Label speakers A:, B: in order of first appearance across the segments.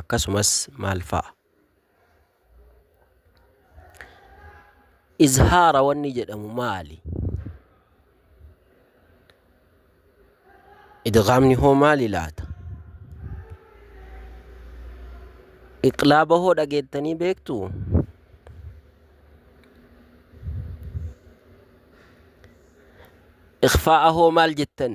A: akkasumas maal fa'a? Izhaara wanni jedhamu maali? Idgaamni hoo maali laata? Iqlaaba hoo dhageettanii beektuu? Ikhfaa'a hoo maal jettan?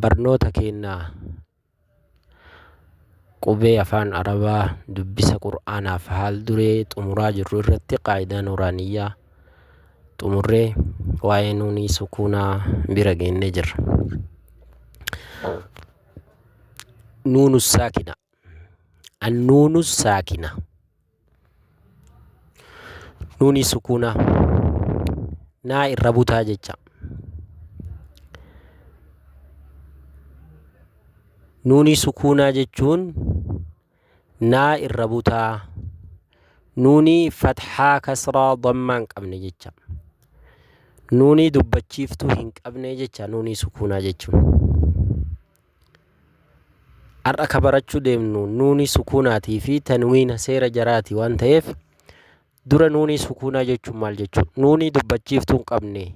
A: Barnoota keenna Qubee Afaan Arabaa Dubbisa Qur'aanaa fi Haal Duree xumuraa jirru irratti Qaayidaa Nuuraaniyyaa xumurree waa'ee Nuunii Sukuunaa bira geennee jirra. Nuunu Saakina Annuunu Saakina Nuuni sukuunaa naa irra butaa jecha. Nuuni sukuunaa jechuun naa irra butaa. Nuuni fathaa kasraa dammaa hin qabne jecha. Nuuni dubbachiiftuu hin qabne jecha nuuni sukuunaa jechuun. Har'a ka barachuu deemnu nuunii sukuunaatii fi tanwiina seera jaraati waan ta'eef dura nuunii sukuunaa jechuun maal jechuudha? Nuunii dubbachiiftuu hin qabne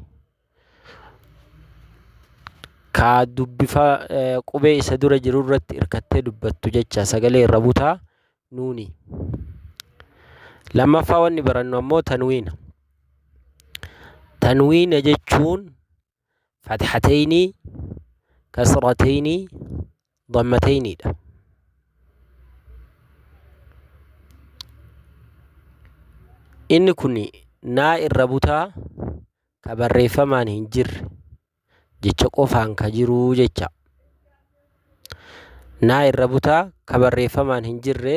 A: kaa dubbifa eh, qubee isa dura jiru irratti hirkattee dubbattu jecha sagalee irra butaa nuunii. Lammaffaa wanni barannu ammoo tanwiina. Tanwiina jechuun fathatayni kasratayni dammatayniidha inni kun naa irra butaa ka barreeffamaan hin jirre jecha qofaan ka jiruu jecha naa irra butaa ka barreeffamaan hin jirre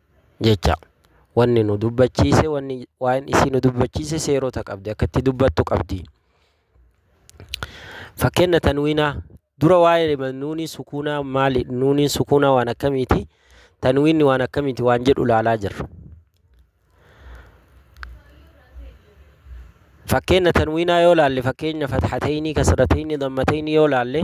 A: jecha. Wanni nu dubbachiise wanni waa'een isii nu dubbachiise seerota qabdi akka itti dubbattu qabdi. Fakkeenya tanwiinaa dura waa'ee nuunii sukuunaa maali nuuniin sukuunaa waan akkamiiti tanwiinni waan akkamiiti waan jedhu ilaalaa jirra. Fakkeenya tanwiinaa yoo laalle fakkeenya fathateenii kasrateenii dammateenii yoo laalle.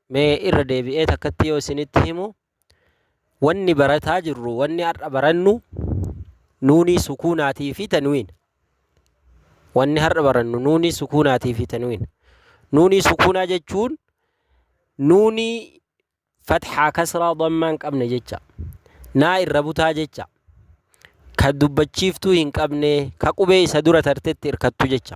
A: Mee irra deebi'ee takkatti yoo isinitti himu wanni barataa jirru wanni har'a barannu nuunii sukuunaatii fi tanwiin wanni har'a barannu nuunii sukuunaatii fi tanwiin nuunii sukuunaa jechuun nuunii fatxaa kasraa dammaan qabne jecha naa irra butaa jecha ka dubbachiiftuu hin qabne ka qubee isa dura tartetti irkattu jecha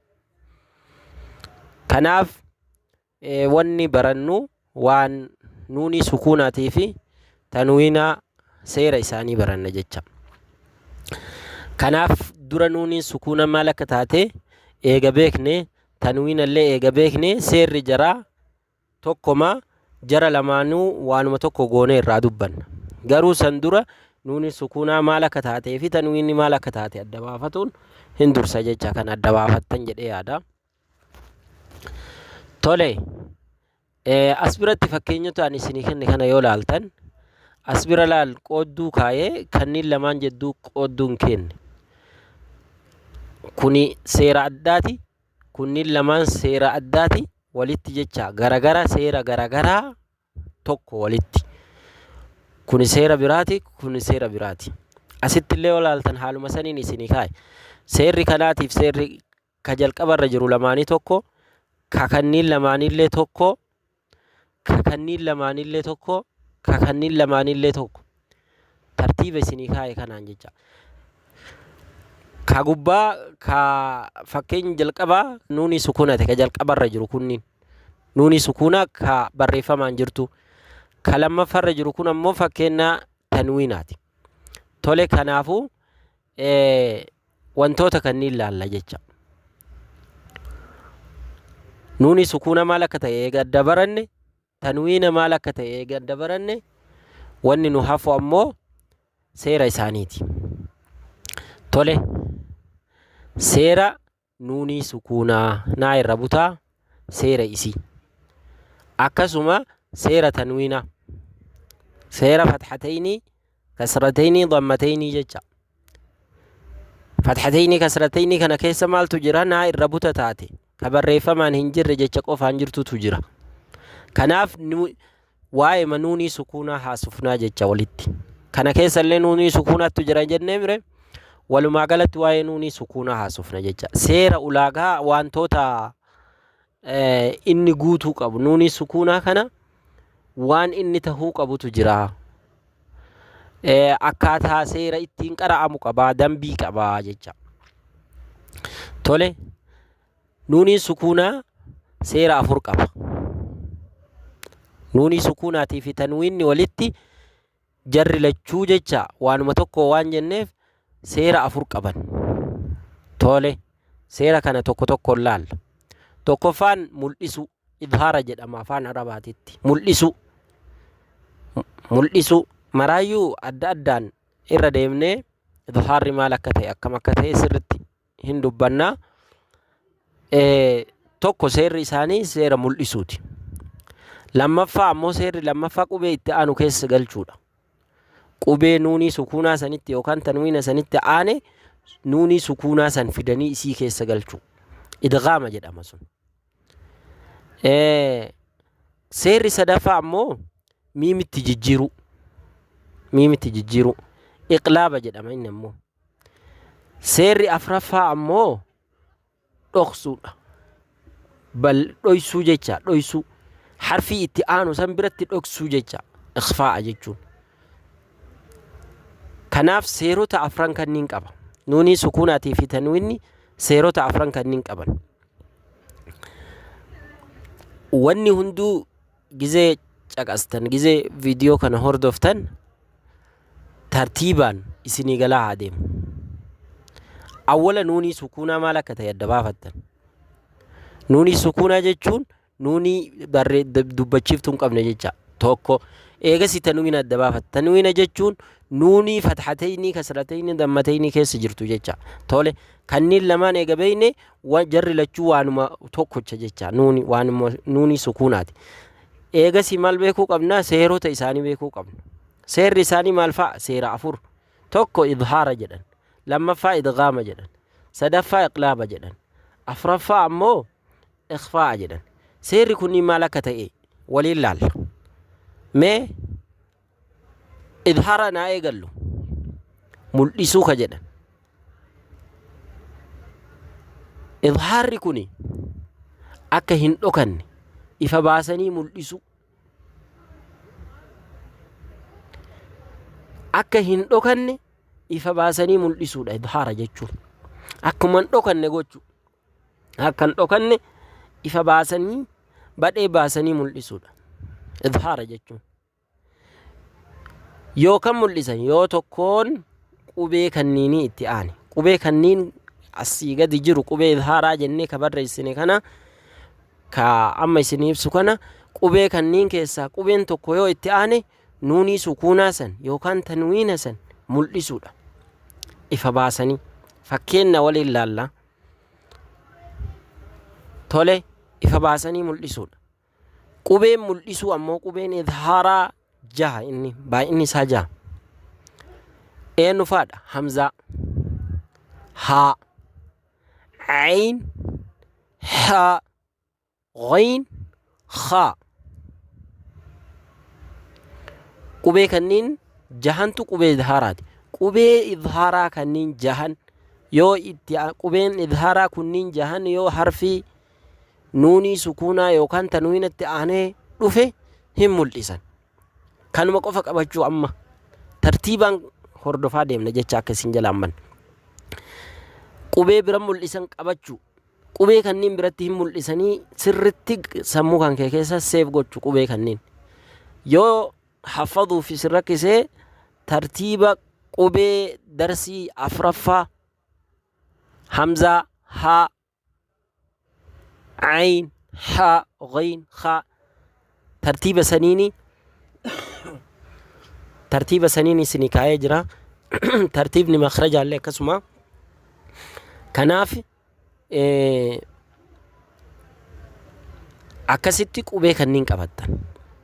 A: Kanaaf wanni barannu waan nuunii sukuunaatii fi tanwiinaa seera isaanii baranna jecha. Kanaaf dura nuuniin sukuuna maal akka taate eega beekne tanwiina illee eega beekne seerri jaraa tokkoma jara lamaanuu waanuma tokko goonee irraa dubbanna. Garuu san dura nuuni sukuunaa maal akka taatee fi tanwiinni maal akka taate adda baafatuun hin dursa jecha kan adda baafattan jedhee yaada. Tole as biratti fakkeenyota ani isinii kenne kana yoo laaltan as bira laal qoodduu kaayee kanneen lamaan jedduu qoodduun kenne. Kuni seera addaati. Kunniin lamaan seera addaati walitti jecha garagara seera garagaraa tokko walitti. Kuni seera biraati, kuni seera biraati. Asitti illee yoo ilaaltan haaluma saniin isinii kaa'e. Seerri kanaatiif seerri ka jalqabarra jiru lamaanii tokko, ka kanniin lamaaniillee tokko, ka kanniin lamaanillee tokko ka kanniin lamaanillee tokko tartiiba isinii kaa'e kanaan jecha ka gubbaa ka fakkeenya jalqabaa nuunii sukuunate ka jalqabarra jiru kunniin nuunii sukuunaa ka barreeffamaan jirtu ka lammaffarra jiru kun ammoo fakkeenya tanwiinaati tole kanaafuu wantoota kanniin laalla jecha. Nuuni sukuuna maal akka ta'e eega adda baranne, tanwiina maal akka ta'e eega adda baranne, wanni nu hafu ammoo seera isaaniiti. Tole, seera nuunii sukuunaa naa irra butaa seera isii akkasuma seera tanwiina seera fatxateynii kasrateynii dammateynii jecha fatxateynii kasrateynii kana keessa maaltu jira naa irra buta taate ka barreeffamaan hin jirre jecha qofaan jirtutu jira kanaaf nu Waa'eema nuunii sukuunaa haasofnaa jecha olitti. Kana keessallee nuunii sukuunaattu jira jennee mire walumaa galatti waa'ee nuunii sukuunaa haasofna jecha. Seera ulaagaa wantoota eh, inni guutuu qabu nuunii sukuunaa kana waan inni tahuu qabutu jira. Eh, akkaataa seera ittiin qara'amu qabaa, dambii qabaa jecha. Tole. Nuuniin sukuunaa seera afur qaba. Nuunii sukuunaatii fi tanwiinni walitti jarri lachuu jecha waanuma tokko waan jenneef seera afur qaban. Tole, seera kana tokko tokkoon laalla. Tokkoffaan mul'isuu, idhaara jedhama afaan Arabaatitti. Mul'isuu. Mul'isuu. Maraayyuu adda addaan irra deemnee idhaarri maal akka ta'e akkam akka ta'e sirritti hin dubbanna. Tokko seerri isaanii seera mul'isuuti. Lammaffaa ammoo seerri lammaffaa qubee itti aanu keessa galchuudha. Qubee nuunii sukuunaa sanitti yookaan tanwiina sanitti aane nuunii sukuunaa san fidanii isii keessa galchuu. Idgaama jedhama sun. Seerri sadaffaa ammoo miimitti jijjiiruu. Miimitti jijjiiruu. Iqlaaba jedhama inni ammoo. Seerri afraffaa ammoo dhoksuudha. Bal dhoysuu jecha dhoysuu. Harfii itti aanu san biratti dhoksuu jecha ikhfaa'a jechuun. Kanaaf seerota afran kanniin qaba. Nuunii sukuunaatii fi tanwiinni seerota afran kanniin qaban. Wanni hunduu Gizee caqastan, gizee viidiyoo kana hordoftan tartiibaan isinii galaa haa deemu. Awwala nuunii sukuunaa maal akka ta'e adda baafattan. Nuunii sukuunaa jechuun nuunii barree dubbachiiftuu hin qabne jecha tokko eegasi tanwiina adda baafatta. Tanwiina jechuun nuunii fatxateynii kasrateynii dammateynii keessa jirtu jecha. Tole kanniin lamaan eega beeyne wa- jarri lachuu waanuma tokkocha jecha nuuni waanuma nuuni sukuunaati. Eegasii maal beekuu qabna? Seerota isaanii beekuu qabna. Seerri isaanii maal fa'a? Seera afur. Tokko idhaara jedhan. Lammaffaa idgaama jedhan. Sadaffaa iqlaaba jedhan. Afraffaa ammoo ikhfaa'a jedhan. Seerri kunniin maal akka ta'e waliin laalla. Mee Idhara naa eegallu mul'isuu ka jedhan. Idhaarri kun akka hin dhokanne ifa baasanii mul'isuu. Akka hin dhokanne ifa baasanii mul'isuudha idhaara jechuun. Akkuma hin dhokanne gochuu. Akka hin dhokanne ifa baasanii badhee baasanii mul'isuudha. Idhaara jechuun. yoo kan mul'isan yoo tokkoon qubee kanniinii itti aane qubee kanniin asii gadi jiru qubee izhaaraa jennee ka barreessine kana ka amma isin ibsu kana qubee kanniin keessaa qubeen tokko yoo itti aane nuunii sukuunaa san yookaan tanwiina san mul'isuudha ifa baasanii fakkeenna waliin laalla tole ifa baasanii mul'isuudha Qubeen mul'isuu ammoo qubeen idhaaraa jaha inni baay'inni isaa jaha. Eenyu faadha? Hamzaa. Haa. Ayn. Haa. Ghayn. Khaa. Qubee kanniin jahantu qubee idhaaraati. Qubee idhaaraa kanniin jahan yoo itti qubeen idhaaraa kunniin jahan yoo harfii nuunii sukuunaa yookaan tanwiinatti aanee dhufe hin mul'isan. Kanuma qofa qabachuu amma tartiibaan hordofaa deemna jecha akka isin jalaan banne. Qubee bira mul'isan qabachuu. Qubee kanneen biratti hin mul'isanii sirritti sammuu kan kee keessa seef gochu qubee kanneen. Yoo haffaduuf isin rakkisee tartiiba qubee darsii afraffaa hamzaa haa ayn ha ghayn kha tartiiba saniini tartiiba saniin isinii kaa'ee jira tartiibni makrajaallee akkasuma kanaaf akkasitti qubee kanniin qabattan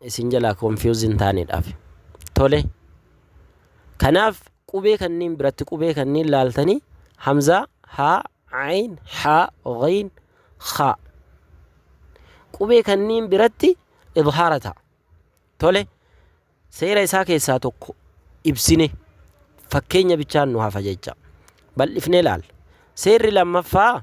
A: isin jalaa confused hin taanedhaaf. Tole. Kanaaf qubee kanniin biratti qubee kanniin laaltanii hamzaa haa ayn haa ghayn khaa qubee kanniin biratti idhaara ta'a. Tole. Seera isaa keessaa tokko ibsine fakkeenya bichaan nu hafa jecha bal'ifnee laal. Seerri lammaffaa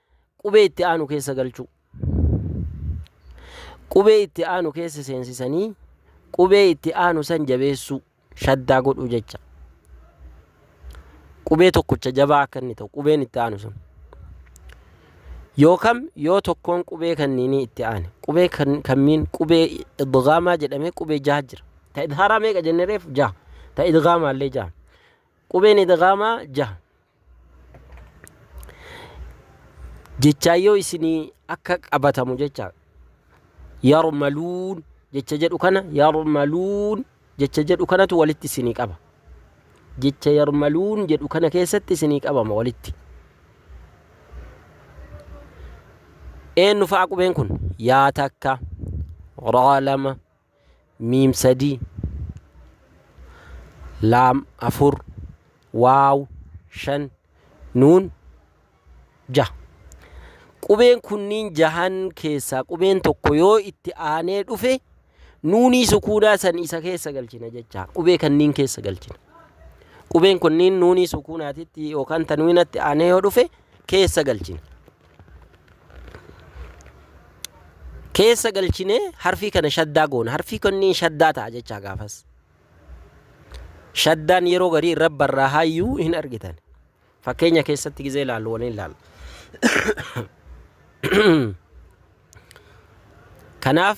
A: qubee itti aanu keessa galchuu. Qubee itti aanu keessa seensisanii qubee itti aanu san jabeessuu shaddaa godhuu jecha. Qubee tokkocha jabaa akka inni ta'u qubeen itti aanu sun. Yookam yoo tokkoon qubee kanniinii itti aane qubee kan kammiin qubee idgaamaa jedhamee qubee jaha jira. Ta idhaaraa meeqa jennereef jaha. Ta idgaamaallee jaha. Qubeen idghaamaa jaha. Jechaan yoo isinii akka qabatamu jecha yarmaluun jecha jedhu kana yarmaluun jecha jedhu kanatu walitti isinii qaba. Jecha yarmaluun jedhu kana keessatti isinii qabama walitti. Eenyu fa'a qubeen kun? Yaa takka, raa lama, miim sadii laam afur waaw shan nuun jaha qubeen kunniin jahan keessaa qubeen tokko yoo itti aanee dhufe nuunii sukuunaa san isa keessa galchina jecha qubee kanniin keessa galchina qubeen kunniin nuunii sukuunaatitti yookaan tanwiinatti aanee yoo dhufe keessa galchina keessa galchinee harfii kana shaddaa goona harfii kunniin shaddaa ta'a jechaa gaafas shaddaan yeroo garii irra barraa hayyuu hin argitan fakkeenya keessatti gizee ilaallu waliin ilaalla kanaaf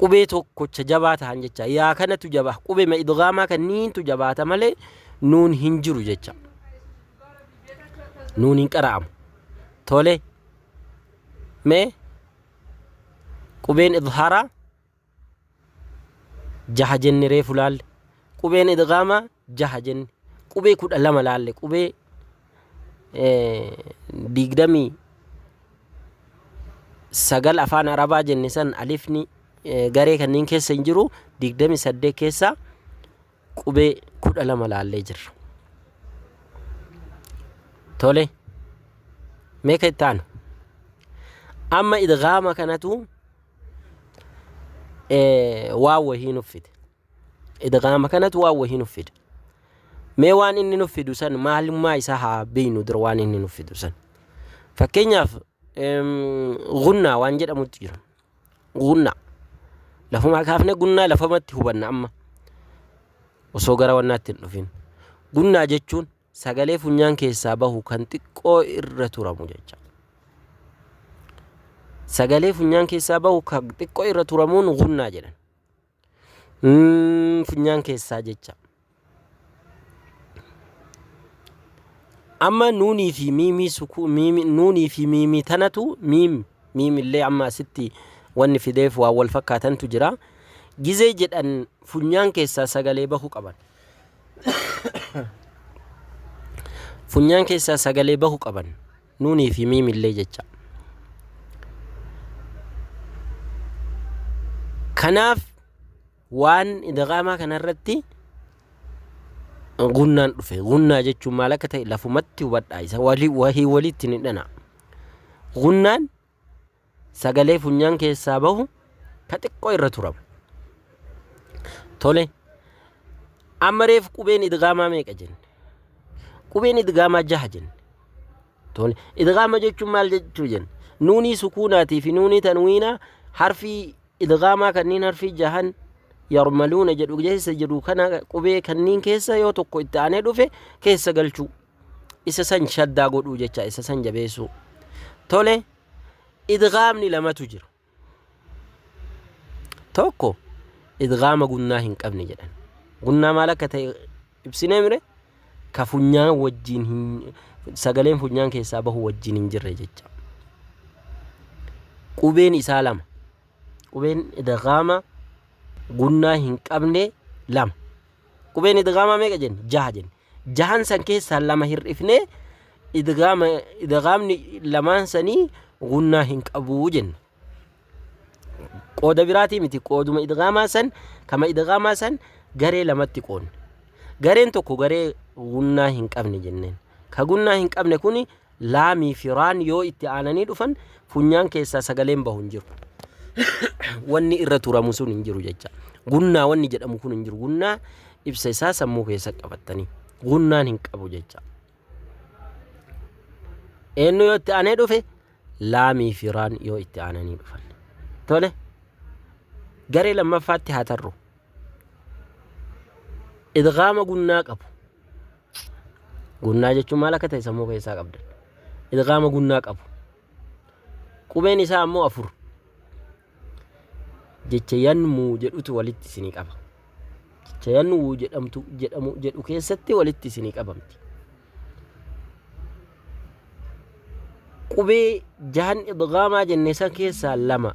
A: qubee tokkocha jabaa tahan jecha yaa kanatu jabaa qubema idgaamaa kanniintu jabaata malee nuun hin jiru jecha nuun hin qara'amu tole mee qubeen idhaaraa jaha jenne reefu laalle qubeen idgaamaa jaha jenne qubee kudha lama laalle qubee digdamii sagal afaan arabaa jenne san alifni garee kanneen keessa hin jiru digdamii saddeet keessaa qubee kudha lama laallee jirra. Tole meeqa itti aanu? Amma idgaama kanatu ee, waan wahii nuf fide idgaama kanatu waan wahii nuf fide mee waan inni nuf fidu san maalummaa isaa haa beeynu dura waan inni nuf fidu san fakkeenyaaf em, gunnaa waan jedhamutti jira gunnaa lafumaa kaafne gunnaa lafamatti hubanna amma osoo gara wannaatti hin dhufin gunnaa jechuun Sagalee funyaan keessaa bahu kan xiqqoo irra turamu jecha. Sagalee funyaan keessaa bahu kan xiqqoo irra turamuun gunnaa jedhan. Mm, funyaan keessaa jecha. Amma nuunii fi miimii sukuu miimi nuunii fi miimii tanatu miim miimillee amma asitti wanni fideef waan wal fakkaatantu jira. Gizee jedhan funyaan keessaa sagalee bahu qaban. funyaan keessaa sagalee bahu qaban nuunii fi miimillee jecha kanaaf waan idaqaamaa kanarratti gunnaan dhufe gunnaa jechuun maal akka ta'e lafumatti hubadhaa isa walii wahii waliitti ni dhana gunnaan sagalee funyaan keessaa bahu ka xiqqoo irra turama. Tole, amma reef qubeen idgaamaa meeqa jenne? Qubeen idgaamaa jaha jenne. Tole, idgaama jechuun maal jechuu jenne? Nuunii sukuunaatii fi nuunii tanwiinaa harfii idgaamaa kanneen harfii jahan yarmaluuna jedhu keessa jiru kana qubee kanneen keessa yoo tokko itti aanee dhufe keessa galchuu Isa san shaddaa godhuu jecha isa san jabeessuu. Tole idgaamni lamatu jira. Tokko idgaama gunnaa hin qabne jedhan. Gunnaa maal akka ta'e ibsinee mire ka funyaan wajjin hin sagaleen funyaan keessaa bahu wajjin hin jirre jecha. Qubeen isaa lama. Qubeen idgaama gunnaa hin qabne lama. Qubeen idgaamaa meeqa jenne? Jaha jenne. jahan san keessaa lama hir'ifnee idgaama idgaamni lamaan sanii gunnaa hin qabuu jenna qooda biraatii miti qooduma idgaamaa san kama idgaamaa san garee lamatti qoodne gareen tokko garee gunnaa hin qabne jenneen ka gunnaa hin qabne kuni Laamii fi raan yoo itti aananii dhufan funyaan keessaa sagaleen bahu hin jiru. wanni irra turamu sun hin jiru jecha. Gunnaa wanni jedhamu kun hin jiru. Gunnaa ibsa isaa sammuu keessa qabattanii. Gunnaan hin qabu jecha. Eenyu yoo itti aanee dhufe laamii fi raan yoo itti aananii dhufan. Tole garee lammaffaatti haa tarru. Idgaama gunnaa qabu. Gunnaa jechuun maal akka ta'e sammuu keessaa qabda. Idgaama gunnaa qabu. Qubeen isaa ammoo afur. Jecha yanmuu jedhutu walitti isinii qaba. Jecha yanmuu jedhamtu jedhamu jedhu keessatti walitti isinii qabamti. Qubee jahan idgaamaa jenne san keessaa lama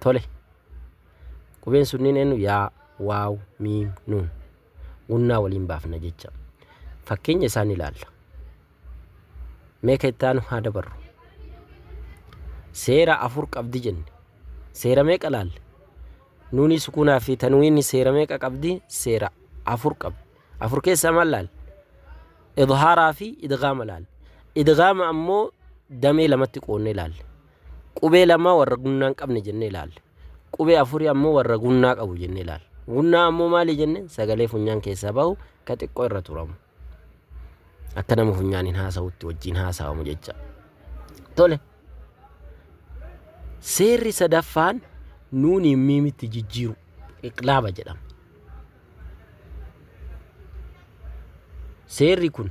A: Tole. Qubeen sunniin eenyu? Yaa, waaw, miim, nuun. Gunnaa waliin baafna jecha. Fakkeenya isaan ilaalla. Mee ka itti aanu haa dabarru. Seera afur qabdi jenne. Seera meeqa laalle? Nuunii sukuunaa fi tanwiinni seera meeqa qabdi? Seera afur qabdi. Afur keessaa maal laalle? Idhaaraa fi idgaama laalle. Idgaama ammoo damee lamatti qoonnee laalle. Qubee lamaa warra gunnaa hin qabne jennee ilaalle. Qubee afurii ammoo warra gunnaa qabu jennee ilaalle. Gunnaa ammoo maali jenne sagalee funyaan keessaa bahu ka xiqqoo irra turamu. Akka nama funyaan hin haasa'utti wajjin haasa'amu jecha. Tole. Seerri sadaffaan nuuniin miimitti jijjiiru iqlaaba jedhama. Seerri kun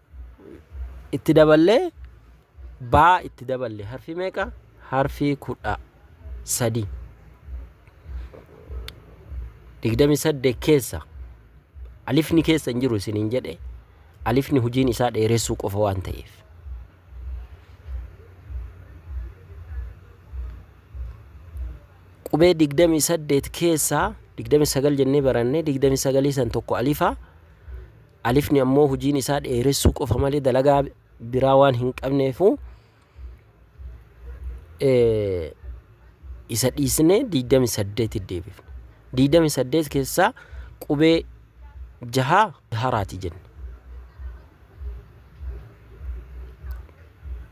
A: itti daballee baa itti daballe harfii meeqa harfii kudha sadii digdami saddeet keessa alifni keessa hin jiru isiniin jedhe alifni hojiin isaa dheeressuu qofa waan ta'eef qubee digdami saddeet keessaa digdami sagal jennee barannee digdami sagalii san tokko alifaa Alifni ammoo hojiin isaa dheeressuu qofa malee dalagaa biraa waan hin qabneefu isa dhiisnee 28 deebifne. 28 keessaa qubee jahaa haraati jenne.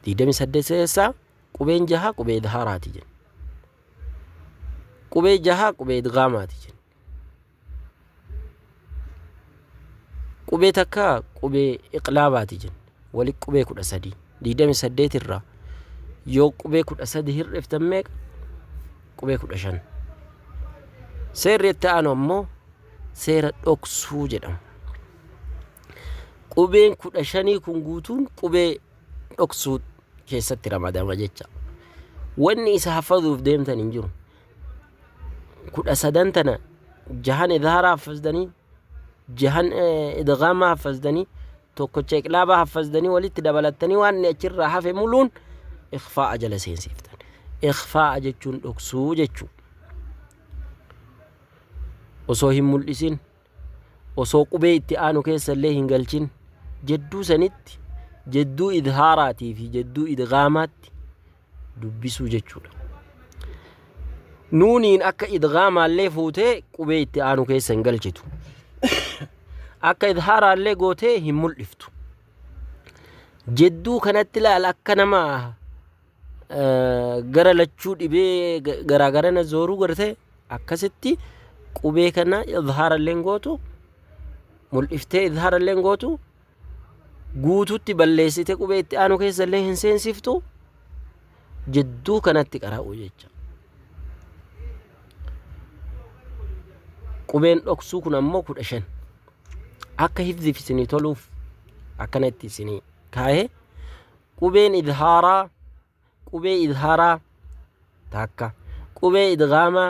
A: 28 keessaa qubeen jahaa qubee haraati jenne. Qubee jahaa qubee idgaamaati jenne. Qubee takka qubee iqlaabaati jenna. Wali qubee kudha sadii. Digdami saddeet irraa yoo qubee kudha sadi hir'iftan meeqa? Qubee kudha shan. Seerri itti aanu ammoo seera dhoksuu jedhama. Qubeen kudha shanii kun guutuun qubee dhoksuu keessatti ramadama jecha. Wanni isa hafazuuf deemtan hin jiru. kudha sadan tana jahan idhaaraa haffazdanii jahan idgaamaa haffazdanii tokkocha iqlaabaa haffazdanii walitti dabalattanii waan inni achirraa hafe muluun ikfaa'a jala seensiiftan ikfaa'a jechuun dhoksuu jechuu osoo hin mul'isin osoo qubee itti aanu keessa illee hin galchin jedduu sanitti jedduu idhaaraatii fi jedduu idgaamaatti dubbisuu jechuudha. Nuuniin akka idgaamaallee fuutee qubee itti aanu keessa hin galchitu. Akka idhaaraallee gootee hin mul'iftu. Jedduu kanatti laal akka nama gara lachuu dhibee garaa garana zooruu garte akkasitti qubee kana idhaarallee gootu mul'iftee idhaarallee gootu guututti balleessite qubee itti aanu keessa illee hin seensiftu jidduu kanatti qara'u jecha. Qubeen dhoksuu kun ammoo kudha shan akka hifziif isinii toluuf akkana itti isinii kaa'ee qubeen idhaaraa qubee idhaaraa takka qubee idgaamaa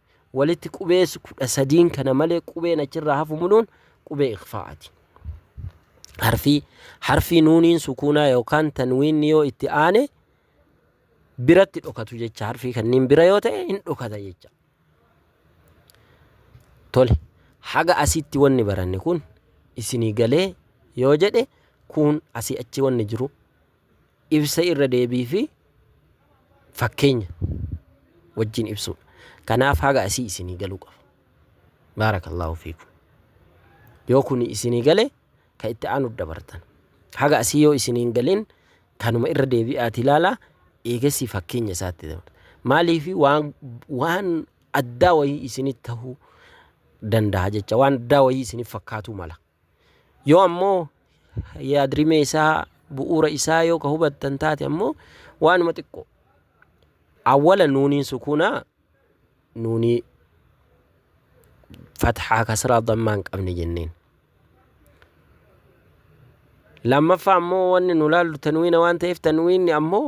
A: walitti qubeessu kudha sadiin kana malee qubeen achirraa hafu muluun qubee ikhfaa'ati. Harfii harfii nuuniin sukuunaa yookaan tanwiinni yoo itti aane biratti dhokatu jecha harfii kanniin bira yoo ta'e hin dhokata jecha. Tole haga asitti wanni baranne kun isinii galee yoo jedhe kun asii achi wanni jiru ibsa irra deebii fi fakkeenya wajjin ibsuudha. Kanaaf haga asii isinii galuu qaba. Baarakallaahu fiikum. Yoo kuni isinii gale ka itti aanu dabartan. Haga asii yoo isinii hin galin kanuma irra deebi'aati ilaalaa eegasii fakkeenya isaatti dabartan. Maaliif waan waan addaa wayii isinii tahuu danda'a jecha waan addaa wayii isiniif fakkaatuu mala. Yoo ammoo yaadrimee isaa bu'uura isaa yoo ka hubattan taate ammoo waanuma xiqqoo awwala nuuniin sukuunaa nuunii fathaa kasraa dammaa hin qabne jenneen. Lammaffaa ammoo wanni nu laallu tanwiina waan ta'eef tanwiinni ammoo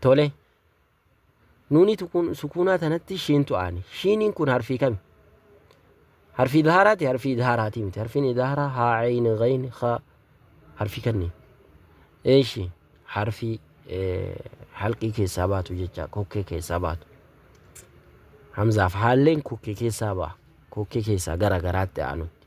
A: Tole. Nuuni tukun- sukuunaa tanatti shiintu aane. Shiiniin kun harfii kami? Harfii idhaaraati, harfii idhaaraatii miti. Harfiin idhaaraa haa, ayni, ghayn, kha harfii kanniin. Eeshi harfii eh, halqii keessaa baatu jecha kokkee keessaa baatu. Hamzaaf haalleen kokkee keessaa ba'a. Kokkee keessaa gara garaatti aanutti.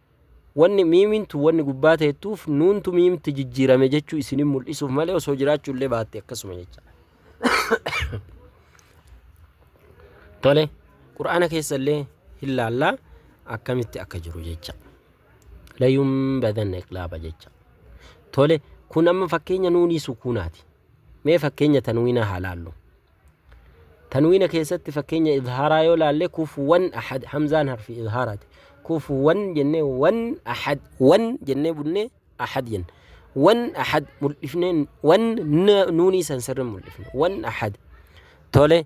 A: Wanni miimiin tun wanni gubbaa teettuuf nuuntu miimtti jijjiirame jechuu isinin mul'isuuf malee osoo jiraachuu illee baatte akkasuma jecha. Tole, Qur'aana keessa illee hin laallaa akkamitti akka jiru jecha. Layuun badanna iqlaaba jecha. Tole, kun amma fakkeenya nuunii sukuunaati. Mee fakkeenya tanwiinaa haa laallu. Tanwiina keessatti fakkeenya idhaaraa yoo laalle kufuwan ahad hamzaan harfi idhaaraati. Kufuwan jennee wan ahad wan jennee bunnee ahad jenna. Wan ahad mul'ifnee wan nuunii san sirri mul'ifne wan ahad. Tole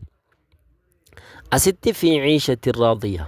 A: asitti fi ciishatti raadiya.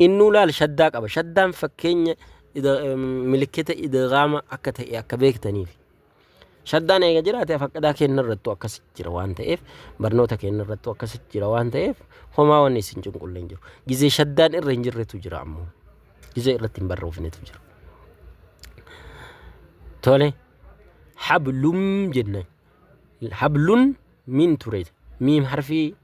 A: Innuu laal shaddaa qaba. Shaddaan fakkeenya milikkita idiraama akka ta'e akka beektaniif. Shaddaan eega jiraate faqqadaa keenya irrattu akkas jira waan ta'eef barnoota keenya irrattu akkas jira waan ta'eef homaa wanni isin cunqulle hin jiru. Gizee shaddaan irra hin jirretu jira ammoo. Gizee irratti hin barroofnetu jira. Tole hablum jenna. Hablun miin ture. Miim harfii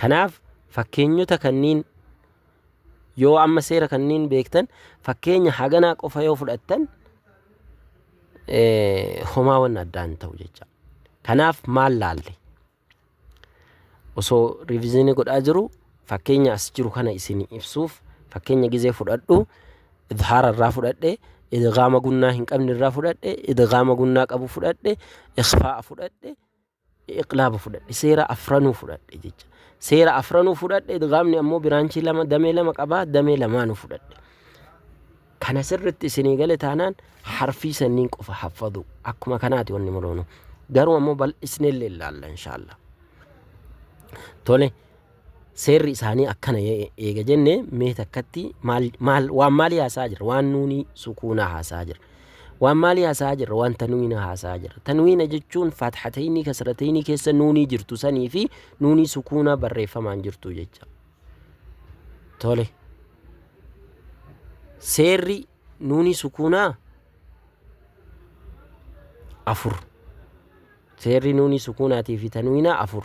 A: Kanaaf fakkeenyota kanniin yoo amma seera kanniin beektan fakkeenya haganaa qofa yoo fudhattan homaa wanna addaan ta'u jecha. Kanaaf maal laalle? Osoo riviziinii godhaa jiru fakkeenya as jiru kana isin ibsuuf fakkeenya gizee fudhadhu idhaara irraa fudhadhe idgaama gunnaa hin qabne irraa fudhadhe idgaama gunnaa qabu fudhadhe ikhfaa'a fudhadhe iqlaaba fudhadhe seera afranuu fudhadhe jecha seera afranuu fudhadhe idgaamni ammoo biraanchii lama damee lama qabaa damee lamaanuu fudhadhe kana sirritti isinii gale taanaan harfii sanniin qofa haffadhu akkuma kanaati wanni muroonu garuu ammoo bal'isneellee ilaalla inshaallah tole Seerri isaanii akkana ee- eega jenne mee takkatti maal, maal, waan maalii haasa'aa jirra? Waan nuuni sukuunaa haasa'aa jirra. Waan maalii haasa'aa jirra? Waan tanwiina haasa'aa jirra. Tanwiina jechuun faatxateynii kasrateynii keessa nuunii jirtu sanii fi nuunii sukuunaa barreeffamaan jirtu jecha. Tole. Seerri nuunii sukuunaa afur. Seerri nuunii sukuunaatii fi tanwiinaa afur.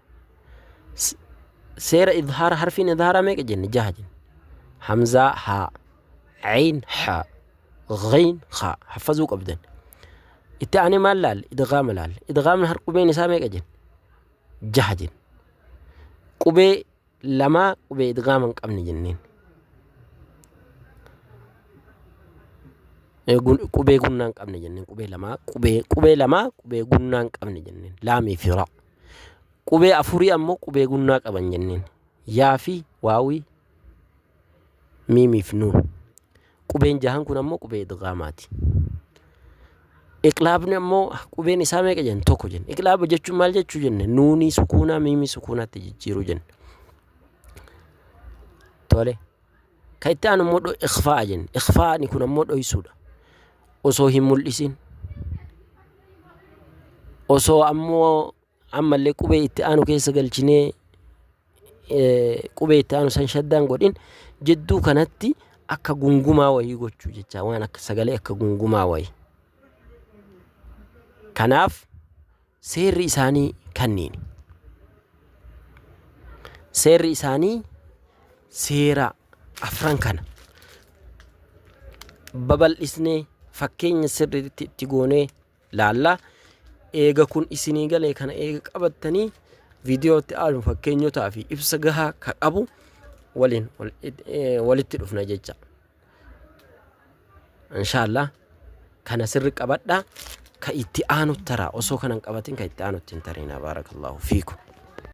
A: seera idhaara harfiin idhaaraa meeqa jenne jaha jenne hamzaa haa ayn haa ghayn haa haffazuu qabdan itti aanee maal laalle idgaama laalle idgaamni har qubeen isaa meeqa jenne jaha jenne qubee lamaa qubee idgaama hin qabne jenneen qubee gunnaa hin qabne jenneen qubee lamaa qubee qubee lamaa qubee gunnaa hin qabne jenneen laamii fi raa Qubee afurii ammoo qubee gunnaa qaban jenneen. Yaa fi waawii miimii fi nuun. Qubeen jahan kun ammoo qubee idgaamaati. Iqlaabni ammoo qubeen isaa meeqa jenna? Tokko jenna. Iqlaaba jechuun maal jechuu jenna? Nuunii sukuunaa miimii sukuunaatti jijjiiruu jenna. Tole. Kan itti aanu immoo dho- ikhfaa'a jenna. Ikhfaa'ni kun ammoo dhoysuudha. Osoo hin mul'isin. Osoo ammoo ammallee qubee itti aanu keessa galchinee eh, qubee itti aanu san shaddaan godhin jidduu kanatti akka gungumaa wayii gochuu jecha waan akka sagalee akka gungumaa wayii. Kanaaf Seerri isaanii kanniini. Seerri isaanii seera afran kana. Babal'isnee fakkeenya sirriitti itti goonee laalla. Eega kun isinii galee kana eega qabattanii viidiyootti aanu fakkeenyotaa fi ibsa gahaa ka qabu waliin walitti dhufna jecha. Inshallah kana sirri qabadha ka itti aanu tara osoo kanan qabatin ka itti aanu ittiin tariina baarakallahu fiikum.